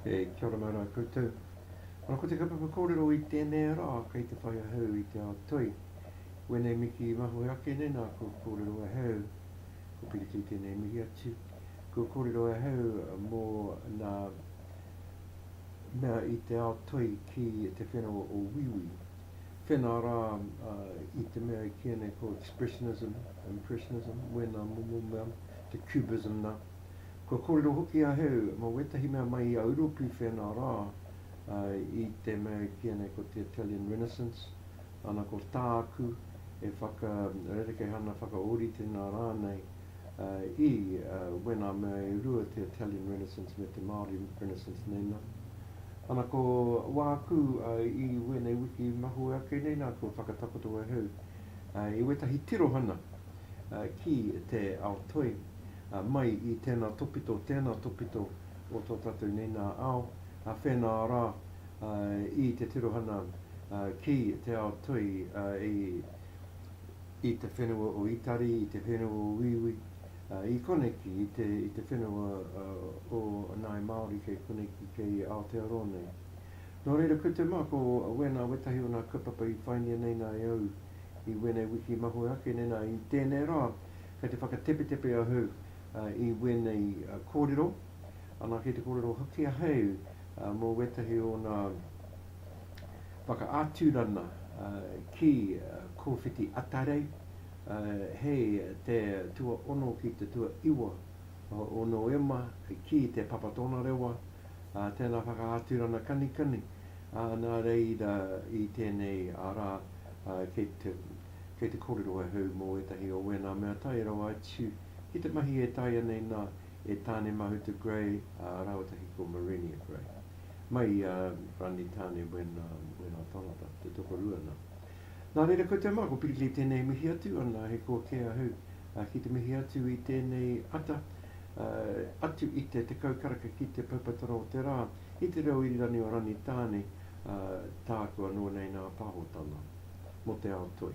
E Kia ora mai rā koutou. Ora ko te kaupapa kōrero i tēnei rā kei te whai ahau i te ao toi. Wēnei miki mahue ake nei nā kua kōrero ahau, ko Piritui tēnei mihi atu, kua kōrero ahau mō nā mea i te ao toi ki te whenua o Wīwī. Tēnā rā, i te mea i kīia nei ko expressionism, impressionism, wēnā momo mea, te cubism nā. Kua kōrero hoki ahau mō wētahi mea mai i a Uropi whēnā rā, i te mea i kīia nei ko te Italian Renaissance, ana ko tāku e whaka rerekehana, whakaōrite nā rānei, i When I May I Rua te Italian Renaissance me te Māori Renaissance nei nā. Ana ko wāku i wēnei wiki mahue ake nei nā kua whakatakoto ahau i wētahi tirohana ki te ao toi mai i tēnā topito, tēnā topito o tō tātou nei nā ao whēnā rā i te tirohana ki te ao toi i i te whenua o Itari, i te whenua o Wīwī, ā, i koneki, i te, i te whenua ā, o Ngāi Māori kei koneki, kei Aotearoa nei. Nō reira, ko te mā, ko wēnā wētahi o nā kaupapa i whaingia nei nā e au i wēnei wiki mahue ake nei, nā, i tēnei rā, kei te whakatepetepe ahau ā, i wēnei ā, kōrero, anā, kei te kōrero hoki ahau ā, mō wētahi o nā, whakaaturana ki Kōwhiti Atarei, hei te tuaono ki te tuaiwa o Noema ki te Papa Tonarewa, tēnā whakaaturana kanikani, nā reira i tēnei rā kei te kōrero ahau mō ētahi o wēnā mea tae rawa atu ki te mahi e taea nei nā e Tāne Mahuta Gray rāwatahi ko Marenia Gray. Mai i a Rani Tane when when I found out te tokorua na. Na reira koutou ma ko Pirikei tenei mihi atu ana he kua ke ahu ki te mihi atu i tenei ata atu i te tekau karaka ki te paupatara o te ra i te reo irirani o Rani Tane taku ano nei na pahotana mo te ao toi.